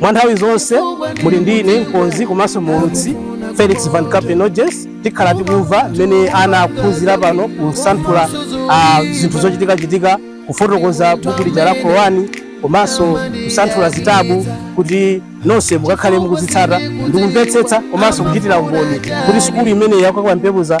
mwa nthawi zonse muli ndi ine mkonzi komanso muulutsi felix van capenoges tikhala tikumva mmene ana akuphunzira pano kusanthula ah, zinthu zochitikachitika kufotokoza buku lija la qurani komanso kusanthula zitabu kuti nonse mukakhale mukuzitsata ndikumvetsetsa komanso kuchitira umboni kuti sukulu imene ya kwa kampepuza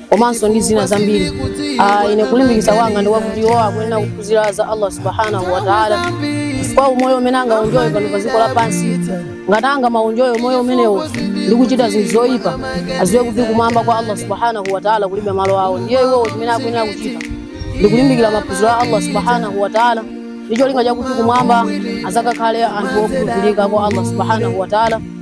komanso ndi zina zambiri Ah, ine kulimbikitsa kwanga ndikwakuti iwo akuyenera kuphunzira za allah subhanahu wataala chifukwa umoyo umene angaunjoye pano pa dziko lapansi ngati angamaunjoye umoyo umenewo ndi kuchita zinthu zoyipa aziwe kuti kumwamba kwa allah subhanahu wataala kulibe malo awo ndiye iwowo chimene akuyenera kuchita ndi kulimbikira maphunziro a allah subhanahu wataala ndi cholinga chakuti kumwamba azakakhale anthu okhulupirika kwa allah subhanahu wataala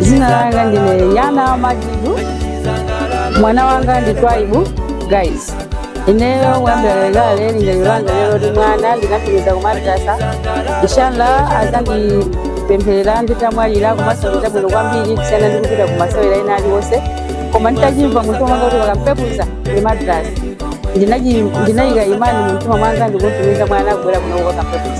zina langa ndine yana majidu mwana wanga ndi twaibu guys ineyo wambelalekale lingaliro langa lero ndi mwana ndinatumiza kumadrasa inshallah azandipempherera nditamwalira komanso nditabwino kwambiri kusiyana ndi kupita kumasewera ena aliwonse koma nditachimva munthu wanga kuti kwa kampepuza ndi madrasa ndinayika imani mumtima mwanga ndikutumiza mwana kubwera kuno kwa kampepuza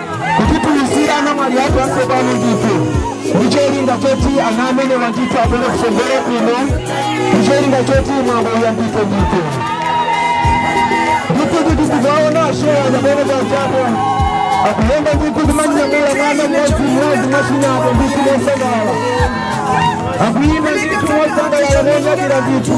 kuti tiuzire anamwali athu atsopano ndithu ndicholinga choti ana amenewa ndithu abwere kusogolo kuno ndicholinga choti mwambo uyambitse ndithu ndithu kuti tizaona shewa nyamene chanjako akuyenda ndithu kumanyamula mwana mmodzi mmodzi mwachinyapo ndithu mosangalala akuyimba ndithu mosangalala monyadira ndithu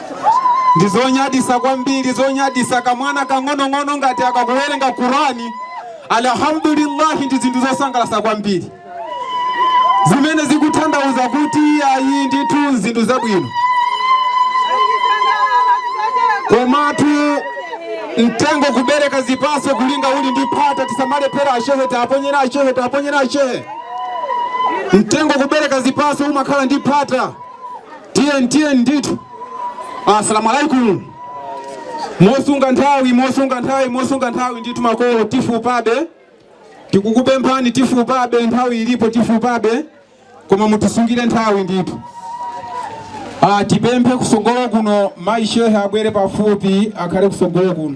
ndi zonyadisa kwambiri zonyadisa kamwana kang'onong'ono ngati akakuwerenga qurani alhamdulillahi ndi zinthu zosangalasa kwambiri zimene zikuthandauza kuti ayi ndithu zinthu zabwino komatu mtengo kubereka zipaso kulinga uli ndi phata tisamalephera ashehe tiaponyere ashehe tiaponyere ashehe mtengo kubereka zipaso umakhala ndi phata tiyeni tiyeni ndithu assalamu alaikum mosunga nthawi mosunga nthawi mosunga nthawi ndithu makolo tifupabe tikukupemphani tifupabe nthawi ilipo tifupabe koma mutisungire nthawi ndithu Ah, tipemphe kusogolo kuno mayi shehe abwere pafupi akhale kusogolo kuno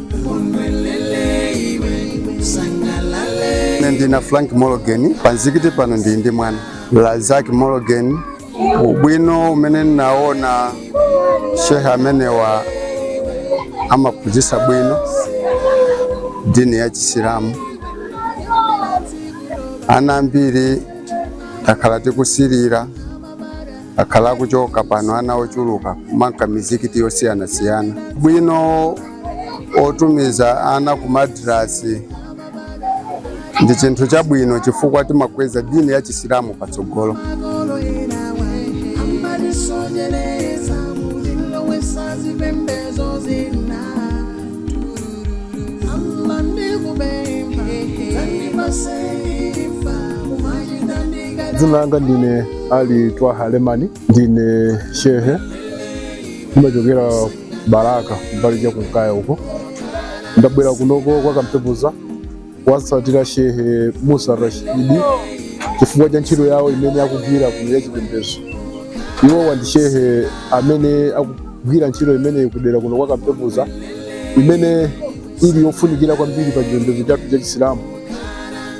Ine ndine Frank Morgan panzikiti pano ndi ndi mwana Lazak Morgan. Ubwino umene ndinaona shehe amenewa amaphunzitsa bwino dini ya Chisilamu. Ana ambiri takhala tikusilira akhala akuchoka pano ana ochuluka kumanka mizikiti yosiyanasiyana bwino otumiza ana ku madrasi ndi chinthu chabwino chifukwa timakweza dini ya chisilamu patsogolo dzina langa ndine ali twaha lemani ndine shehe ndimachokera balaka mbali ya kunkaya uko ndabwera kunoko kwa kampepuza kuwatsatira shehe musa rashidi chifukwa cha ntchito yawo imene akugwira kuno ya chipembedzo iwowa ndi shehe amene akugwira ntchito imeneyi kudera kuno kwa kampepuza imene ili yofunikira kwambiri pa chipembedzo chathu cha chisilamu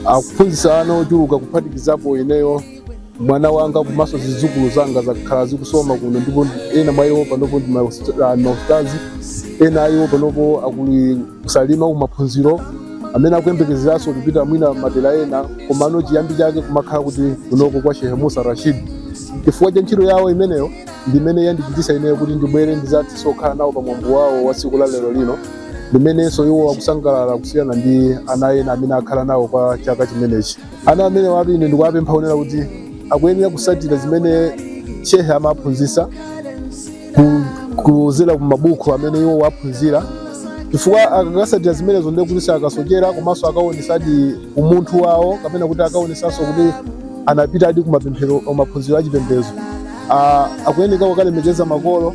akuphunzitsa ana ochuluka kuphatikizapo ineyo mwana wanga komanso zidzukulu zanga zakhala zikusoma kuno ndipo ena mwa iwo panopo ndi maustazi ena a iwo panopo ali ku salima kumaphunziro amene akuyembekezeranso kupita mwina madera ena komano chiyambi chake kumakhala kuli kunoko kwa shehe musa rashid chifukwa cha ntchito yawo imeneyo ndi imene yandichititsa ineyo kuti ndibwere ndizathiso kukhala nawo pa mwambo wawo wa tsiku la lero lino limenenso iwo akusangalala kusiyana ndi ana ena amene akhala nawo kwa chaka chimenechi ana amenewatu ine ndikuwapempha poyera kuti akuyenera kusatira zimene shehe amaphunzisa kuzera ku mabuku amene iwo waphunzira chifukwa akakasatira zimenezo ndiye kuti sakasochera komanso akaonesadi umunthu wawo kapena kuti akaonesanso kuti anapitadi kumaphunziro achipembezo akuyenera kukalemekeza makolo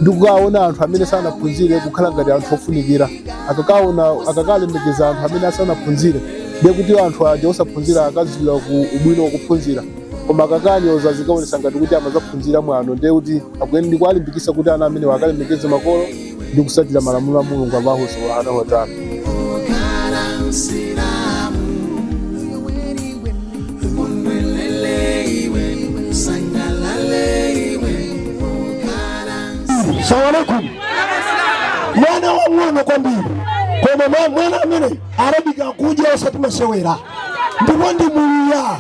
ndi kukaona anthu amene sanaphunzire kukhala ngati anthu ofunikira akakaona akakalemekeza anthu amene asanaphunzire ndiye kuti anthu aja osaphunzira akadziwa ubwino wokuphunzira koma akakanyoza zikaonesa ngati kuti amazaphunzira mwano ndiye kuti akuyeni ndikuwalimbikisa kuti ana amenewa akalemekeze makolo ndi kusatira malamulo a mulungu allahu subhanahu wataala salamu alaikum mwana wang'ono kwambiri koma mwa- mwana amene arabika akuja osati masewera ndipo ndi muluya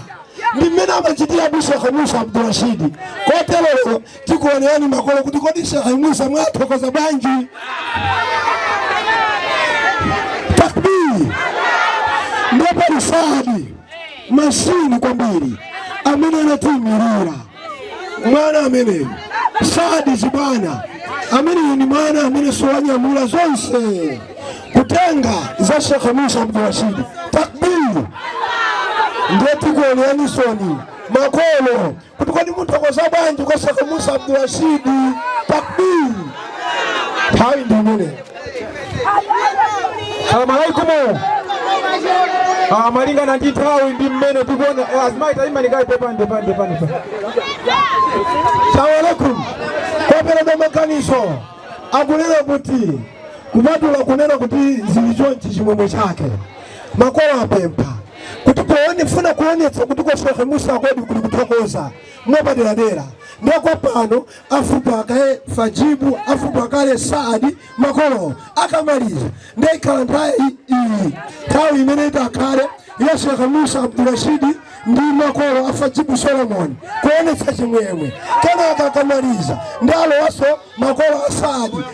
ndi mmene amachitira a shekha musa abdurashidi koterero tikuonani makolo kuti kodi shekha musa mwathokoza bwanji takbiri ndipo lisadi mashini kwambiri amene anatiimirira mwana ameneyo sadziwa chibwana ameneyo ni mwana amene si wanyamula zonse kutenga za shekhe musa abdurashidi takbiri ndiye tikuwoneni inuso makolo kuti kodi munthu akoza bwanji kwa shekhe musa abdurashidi takbiri nthawi ndi imeneyo salamu alaikumu Ah, malingana ndi nthawi ndi mmene tikuona eh, azimayi tayimani kayi pepande pande pande pa salamu alaikum kwaperekedwa maganizo akunena kuti kupatula kunena kuti zili chonchi chimwemwe chake makolo apempha kuti akufuna kuonetsa kuti kwa shekhe musa kodi kuli kuthokoza mwapaderadera ndekwa pano afupa kale fajibu afupa kale saadi makolo akamaliza nde ikhala nthawi iyi nthawi imene itakhale ya shekh musa abdurashidi ndi makolo a fajibu solomoni kuonetsa chimwemwe kenaka akamaliza ndi alowaso makolo a saadi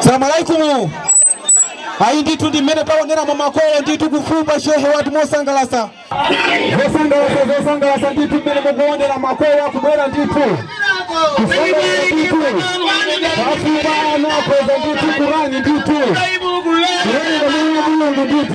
salamu alaikumu ayi ndithu ndi mmene mukuoneramu makolo ndithu kufupa shehe wathu mosangalasa zosangalasa zosangalasa ndithu mmene mukuonera makolo akubwera ndithu kusangalasa ndithu afupa ana akweza ndithu kurani ndithu kurani kamene mulungu ndithu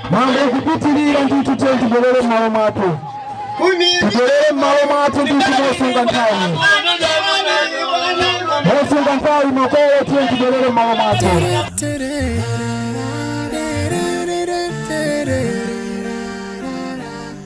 mwambo ukupitirira ndithu tiye tibwerere m'malo mwathu tibwerere m'malo mwathu ndithu mosunga nthawi mosunga nthawi makolo tiye tibwerere m'malo mwathu Tere.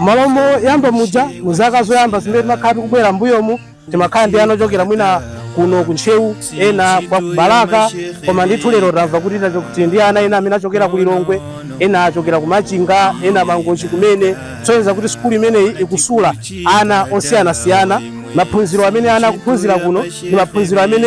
M'malo moyamba muja mu zaka zoyamba zimene timakhala tikubwera m'mbuyomu timakhala ndi ana ochokera mwina kuno ku Ntcheu ena kwa ku Balaka koma ndithu lero tamva kuti tacho- tili ndi ana ena amene achokera ku Lilongwe ena achokera ku Machinga ena Mangochi kumene kusonyeza kuti sukulu imeneyi ikusula ana osiyanasiyana maphunziro amene ana akuphunzira kuno ndi maphunziro amene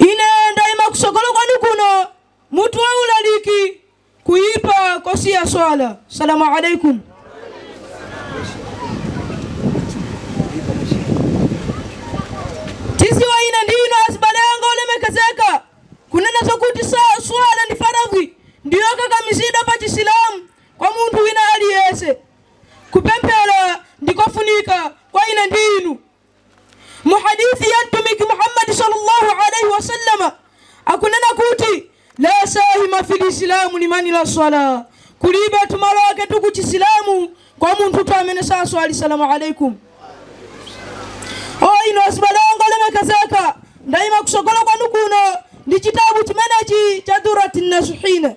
ine ndayima kusogolo kwanu kuno mutu wa ulaliki kuyipa kosiya swala salamu alaikum tidziwe ine ndi inu azibale anga olemekezeka kunena zokuti sa- swala ndi faradhi ndi yokakamizidwa pa chisilamu kwa munthu wina aliyense Kupemphera ndi kofunika kwa ine ndi inu. Mu hadith ya Mtumiki Muhammad sallallahu alaihi wasallam akunena kuti la sahma fil islamu liman la sala, kulibe tu malo ake tu ku Chisilamu kwa munthu tu amene saswali salamu alaikum. O inu azibale anga olemekezeka, ndaima kusogola kwanu kuno ndi chitabu chimenechi cha Durati Nasuhine.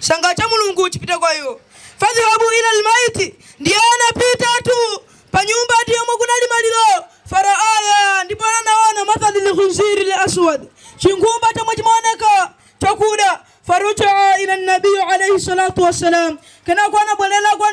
chanka cha mulungu chipite kwa iwo fadhhabu ila lbaiti ndiye anapitatu pa nyumba tu yomwe kunali maliro faraaya ndipo anaona mathali lkhinziri laswad chinkhumba chomwe chimaoneka chakuda farajaa ila nabiyu alaihi salatu wassalam kenako anabwerera kwa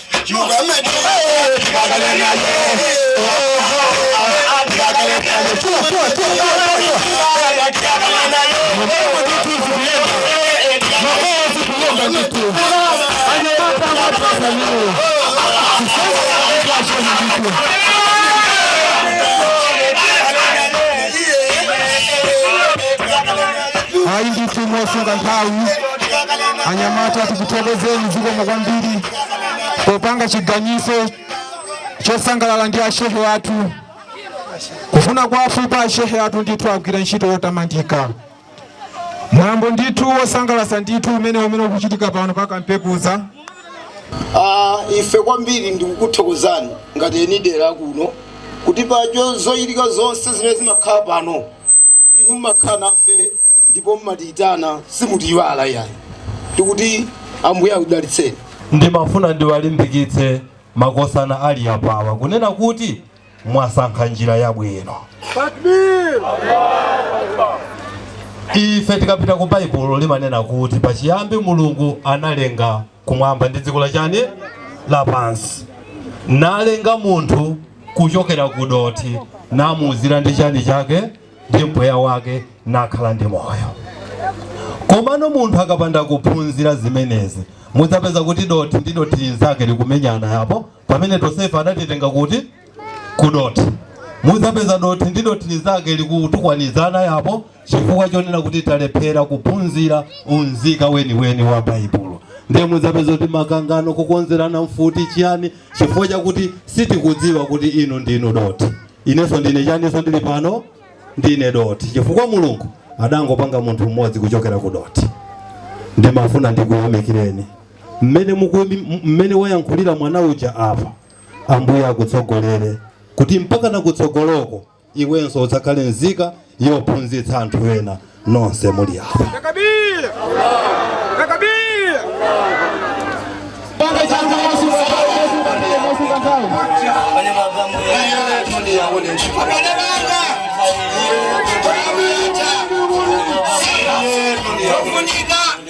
ayi ndithu mosunga nthawi anyamata tikuthokozeni zikomo kwambiri popanga chiganizo chosangalala ndi ashehe athu kufuna kwathu pa ashehe athu ndithu agwira ntchito yotamandika Mulambo ndithu wosangalasa ndithu umene umene ukuchitika pano pa kampekuza Ah, ife kwambiri ndikukuthokozani ngati eni dera kuno kuti pa zochitika zonse zimene zimakhala pano inu mmakhala nafe ndipo mmatiyitana simutiyiwala yayi tikuti ambuye akudalitseni ndimafuna ndiwalimbikitse makosana ali apawa kunena kuti mwasankha njira yabwino ife tikapita ku baibulo limanena kuti pachiyambi mulungu analenga kumwamba ndi dziko la chani lapansi nalenga munthu kuchokera ku dothi namuuzira ndi chani chake ndi mpweya wake nakhala ndi moyo komano munthu akapanda kuphunzira zimenezi mudzapeza kuti dothi ndi dothi linzake likumenyana yapo pamene tonsefe adatitenga kuti ku dothi mudzapeza dothi ndi dothi linzake likutukwanizana apo chifukwa chonena kuti talephera kuphunzira unzika weniweni wa baibulo ndiye mudzapeza kuti makangano kukonzerana mfuti chiyani chifukwa chakuti sitikudziwa kuti inu ndinu dothi inenso ndine chani inenso ndili pano ndine dothi chifukwa mulungu adangopanga munthu mmodzi kuchokera ku dothi ndimafuna ndikuyamikireni mmene mukumi- mmene wayankhulira mwana uja apa ambuye akutsogolere kuti mpaka nakutsogoloko iwenso udzakhale nzika yophunzitsa anthu ena nonse muli apa Takabir! Takabir! Thank you.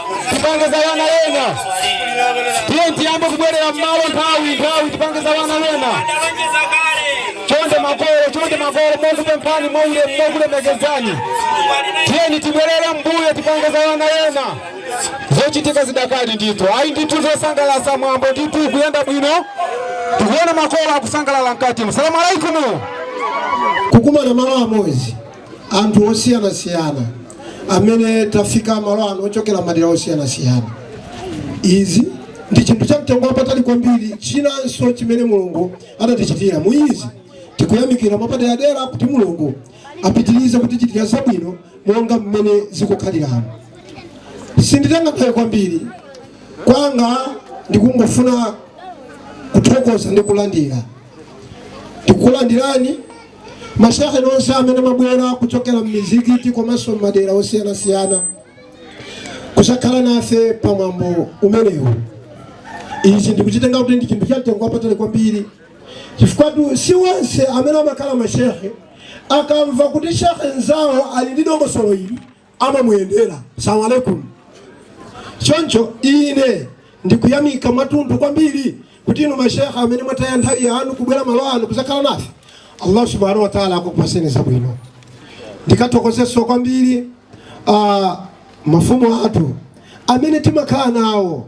tipange za wana wena tiyeni tiyambe kubwerera mmalo nthawi nthawi tipange za wana wena chonde makolo chonde makolo mokupemphani mwaulemu mokulemekezani tiyeni tibwerere mbuyo tipange za wana wena zochitika zidakali ndithu ayi ndithu zosangalatsa mwambo ndithu ukuyenda bwino tikuona makolo akusangalala mkati salamu alaikumu kukumana malo amodzi Anthu osiyanasiyana amene tafika malo ano ochokera madera osiyanasiyana. Izi ndi chinthu cha mtengo wapatali kwambiri chinanso chimene Mulungu adatichitira. Mu izi tikuyamikira mwapaderadera kuti Mulungu apitirize kutichitira zabwino monga mmene zikukhaliramo. Sinditenga nthawi kwambiri kwanga ndikungofuna kuthokoza ndi kulandira. Tikukulandirani mashehe nonse amene mwabwera kuchokera m'mizikiti komanso m'madera osiyanasiyana kudzakhala nafe pa mwambo umenewu izi ndikuchitenga kuti ndi chinthu chamtengo wapatali kwambiri chifukwatu si wonse amene amakhala mashehe akamva kuti shehe mnzawo ali ndi dongosolo ili amamuyendera salamu alaikum choncho ine ndikuyamika mwatunthu kwambiri kuti inu mashehe amene mwataya nthawi yanu kubwera malo ano kudzakhala nafe allah subhanahu wa taala akakupatseni zabwino ndikathokozenso kwambiri uh, mafumu athu amene timakhala nawo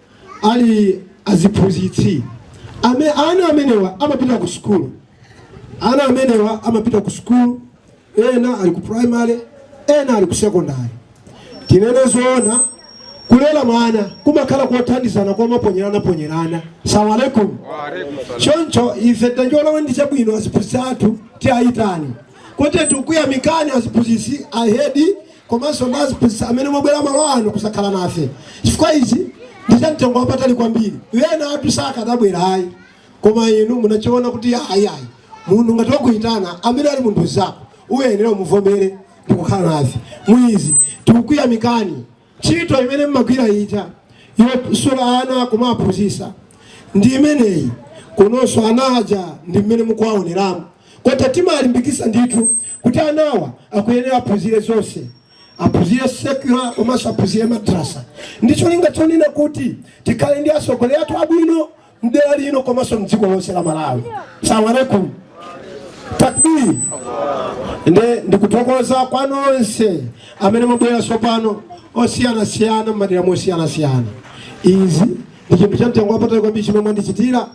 ali aziphunzitsi ame, ana amenewa amapita ku sukulu ana amenewa amapita ku sukulu ena ali ku primary ena ali ku secondary tinene zoona kulera mwana kumakhala kothandizana kumaponyeranaponyerana salamu alaikum choncho ife tachiona ndi chabwino aziphunzitsi athu tiayitani kuti tikuyamikani aziphunzitsi ahedi komanso ndi aziphunzitsi amene mwabwera malo ano kuzakhala nafe chifukwa izi ndi za mtengo wapatali kwambiri ena athu sakadabwera ayi koma inu munachiona kuti ayi ayi munthu ngati wakuyitana amene ali munthu nzako uyenera umuvomere ndi kukhala nafe muizi tikukuyamikani ntchito imene mmagwira ija yosula ana kumaphunzitsa ndi imeneyi kunonso ana aja ndi mmene mukuwaoneramo Kotero timawalimbikitsa ndithu kuti anawa akuyenera aphunzire zonse. Aphunzire secular komanso aphunzire madrasa ndi cholinga chonena kuti tikhale ndi atsogoleri athu abwino mdera lino komanso mdziko lonse la Malawi. Salamu alaikum. Takbir. Nde ndikuthokoza kwa nonse amene mwabwera tsopano osiyanasiyana m'madera mosiyanasiyana. Izi ndi chinthu cha mtengo wapatali kwambiri chimene mwandichitira.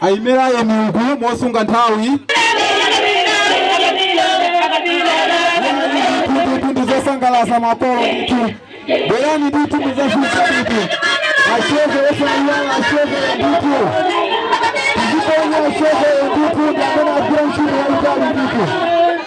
ayimira tiyeni uku mosunga nthawi ndi zosangalatsa makolo ndithu bwerani ndithu muzafupe ndithu ashehe osayiwala ashehe ndithu tiziponya ashehe ndithu ndi amene agwira ntchito yaitali ndithu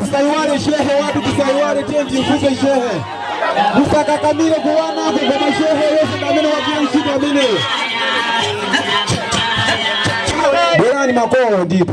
Msaiwale shehe, watu tusaiwale tenti, mvuke shehe, msakakamile kuwana kugoma shehe, Yesu ndamene wakiishi ndamene Bwerani makolo ndipo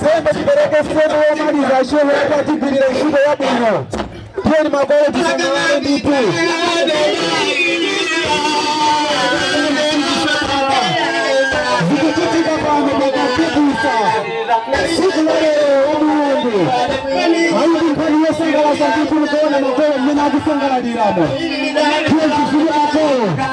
Sembe tipereke sehemu yomaliza shehe yake atigwirire ntchito yabwino. Tiyeni makolo tisangalale ndithu. Zikuchitika pano pa Kampepuza siku la lero wa Mulungu. Ayubu nkhani yosangalatsa ndithu kuona makolo mmene akusangalaliramo. Tiyeni tifunire makolo.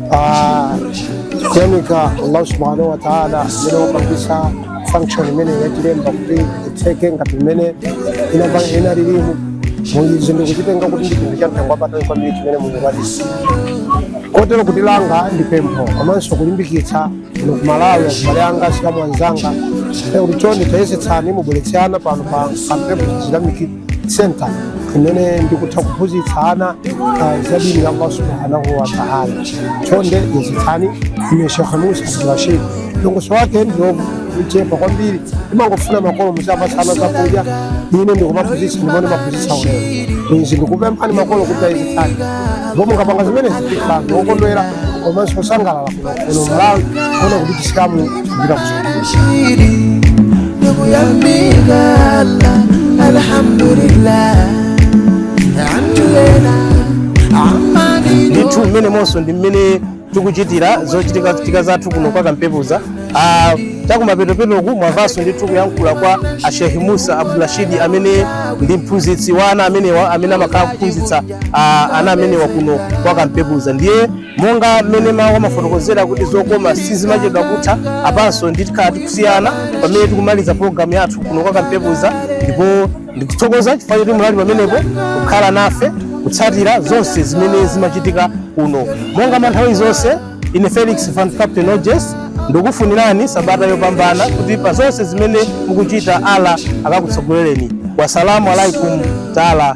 Ah, kuyamika allah subhanahu wa taala amene wapangisa function imene anayilemba kuti itseke ngati mmene inapa- inalilimu muizi ndikuchitenga kuti ndi chinthu cha mtengo wapatali kwambiri chimene munachita kotero kuti langa ndi pempho komanso kulimbikitsa inu a ku malawi azibale anga asilamu anzanga kuti chonde tayesetsani mubweretse ana pano pa kampepuza islamic center imene ndikutha kuphunzitsa ana ah, za dini ya allah subhanahu wa taala chonde yesetsani ine shekh musa abdurashid longoso wake ndi lochepa kwambiri timangofuna makolo muziwapatsa ana zakudya ine ndikumaphunzitsa ndipo ndimaphunzitsa ulere izi ndikupemphani makolo kuti yesetsani ndipo mukapanga zimenezi ndikhala wokondwera komanso osangalala kuno Malawi kuona kuti chisilamu kupita kuzungulisa Shiri, ndugu ya migala, alhamdulillah. Andulena, amani do. ndithu mmene monso ndi mmene tikuchitira zochitikachitika zathu kuno kwa kampepuza Ah, chakumapetopetoku mwamvanso ndithu kuyankhula kwa a Sheikh Musa Abdulrashidi amene ndi mphunzitsi wa ana amenewa amene amakhala akuphunzitsa ah, ana amenewa kuno kwa kampepuza ndiye monga mmene mawu amafotokozera kuti zokoma sizimachedwa kutha apanso ndi tikhala tikusiyana pamene tikumaliza pologalamu yathu kuno kwa Kampepuza ndipo ndikuthokoza chifukwa choti munali pamenepo kukhala nafe kutsatira zonse zimene zimachitika kuno monga manthawi zonse ine felix van captain oges ndikufunirani sabata yopambana kuti pa zonse zimene mukuchita Allah akakutsogolereni wasalamu alaikum taala